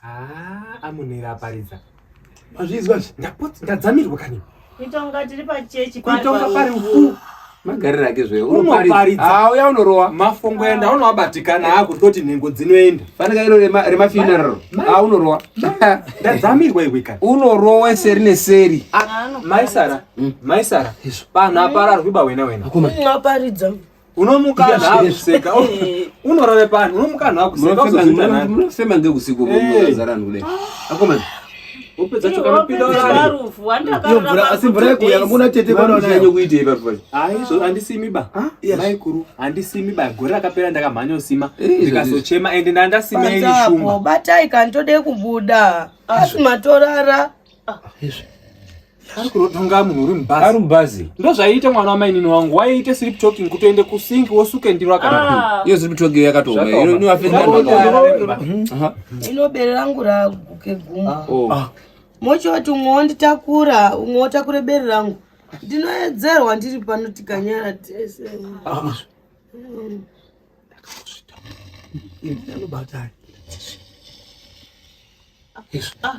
Haa amunera aparidza. Mazvizwa zvi. Ndapotsa ndadzamirwa kani. Kuitonga tiri pachechi pari. Kuitonga pari uku. Magarira ake zve. Unoparidza. Haa uya unorowa. Mafungo enda unowabatikana haa kuti toti nhengo dzinoenda. Fanika iro rema funeral. Haa unorowa. Ndadzamirwa iwe kani. Unorowa seri neseri. Ah, Maisara. Hmm. Maisara. Panhu apararwi ba wena wena. Unoparidza. unomuka akuseka unorave pano unomuka anhu akuseka unosema ngeusiku zaranhu kudai akomana upedza chokanopinda uraiomvura asi mvura yekuuya kamuna tete panonayo kuitei papo aizvo handisimi ba maikuru handisimi ba gore rakapera ndakamhanya usima ndikazochema ende ndandasima ini shumba batai kani tode kubuda asi matorara ari kurotonga munhu uri mubhazi ari mubhazi ndozvaiita mwana wamainini wangu waiite sleep talking kutoende kusink wosuke ndiro akana iyo sleep talking yakatooma iyo inoafekta ino bere rangu raguke guma oh. ah. mochoti umwe wonditakura umwe wotakure bere rangu ndinoedzerwa ndiri pano tikanyara tese ah. mm. anobata ah.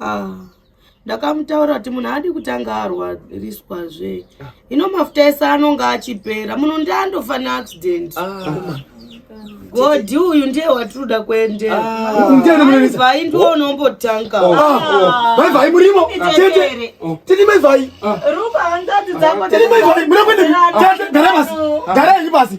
ah ndakamutaura kuti munhu adi kutanga arwariswa zve ino mafuta ese anonga achipera munhu ndi andofa neaccident ah. godhi uyu ndiye watinoda kuenderaivai ah. ndiwo unombotanga oh. ah. maivai murimo tete tete maivai ruba hanzadzi dzako tete maivai muna kuende gara pasi gara yanyu pasi